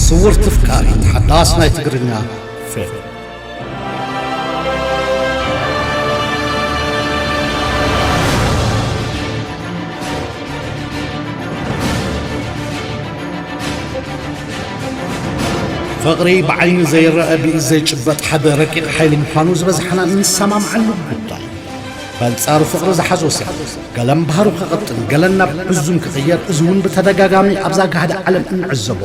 ስውርቲ ፍቃሪ ሓዳስ ናይ ትግርኛ ፊልም ፍቕሪ ብዓይኒ ዘይረአ ብኢድ ዘይጭበጥ ሓደ ረቂቕ ሓይሊ ምዃኑ ዝበዝሓና እንሰማምዓሉ ጉዳይ በንጻሩ ፍቕሪ ዝሓዞ ሰብ ገለ ምብሃሩ ክቕጥን ገለ ናብ ሕዙን ክቕየር እዚ እውን ብተደጋጋሚ ኣብዛ ጋህዲ ዓለም እንዕዘቦ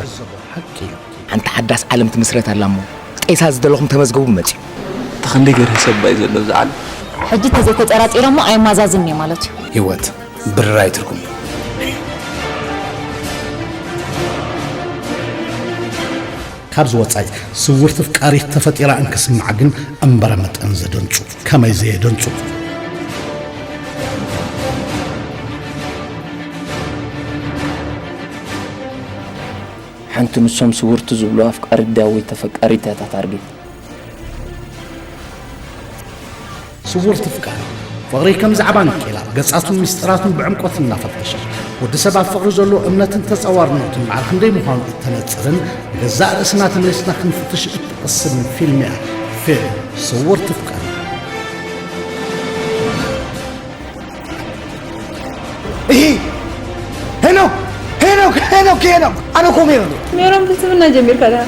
ሓቂ እዩ። ሓንቲ ሓዳስ ዓለም ትምስረት ኣላ እሞ ጤሳ ዝደለኹም ተመዝገቡ መጺኡ። ኣታ ክንደይ ገርሂ ሰብ ኣዩ ዘሎ ኣብዛ ዓለም። ሕጂ ተዘይተጸራጺረሞ ኣይማዛዝንን እየ ማለት እዩ። ሂወት ብርራይ ትርጉም። ካብዚ ወጻኢ ስውርቲ ፍቃሪት ተፈጢራ እንክስማዕ ግን እምበረ መጠን ዘደንጹ። ከመይ ዘየ ደንጹ ሓንቲ ንሶም ስውርቲ ዝብሉ ኣፍቃሪ ዳዊት ተፈቃሪት እያ እታ ታርጌት ስውርቲ ፍቃሪ ፍቕሪ ከም ዛዕባ ንኬላ ገጻቱን ምስጢራቱን ብዕምቆት እናፈተሸ ወዲ ሰብ ኣብ ፍቕሪ ዘሎ እምነትን ተጸዋርነቱን መዓል ክንደይ ምዃኑ እተነጽርን ገዛእ ርእስና ተመሊስና ክንፍትሽ ቅስን ፊልምያ ፊልም ስውር ትፍቀር ይሄ ሄኖክ ሄኖክ ሄኖክ ሄኖክ ኣነ እኮ ሜሮን እየ። ሜሮን ብስምና ጀሚርካ ድኣ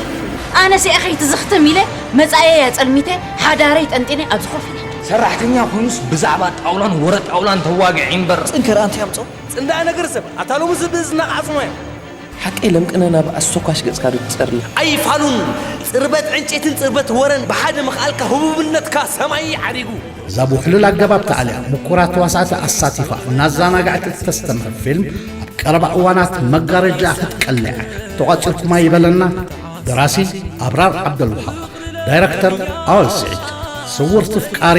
ኣነ ሲኣ ከይትዝኽትም ኢለ መጻየያ ጸልሚተ ሓዳረይ ጠንጢነ ኣብ ዝኾፍነ ሰራሕተኛ ኮይኑስ ብዛዕባ ጣውላን ወረ ጣውላን ተዋግዒ እምበር ፅንከር ኣንተ ያምፀው ፅንዳኣ ነገር ሰብ ኣታ ሎሚ ዝብእዝ እናቃዕፅሞያ ሓቀይ ለምቅነና ብ ኣስቶካሽ ገጽካ ዶ ትጸሪ። ኣይፋሉን ጽርበት ዕንጨይትን ጽርበት ወረን ብሓደ ምኽኣልካ ህቡብነትካ ሰማይ እዩ ዓሪጉ። እዛ ብውሕሉል ኣገባብ ተኣልያ ምኩራት ተዋሳእቲ ኣሳቲፋ እናዛናገዐት እተስተምህር ፊልም ኣብ ቀረባ እዋናት መጋረጃኣ ክትቀልዕ እያ። ተቋጺርኩማ ይበለና ደራሲ ኣብራር ዓብደልውሃብ ዳይረክተር ኣወል ስዒድ ስውርቲ ፍቃሪ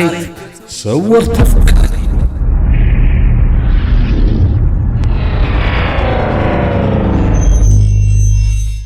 ሰወርቲ ፈቃሪ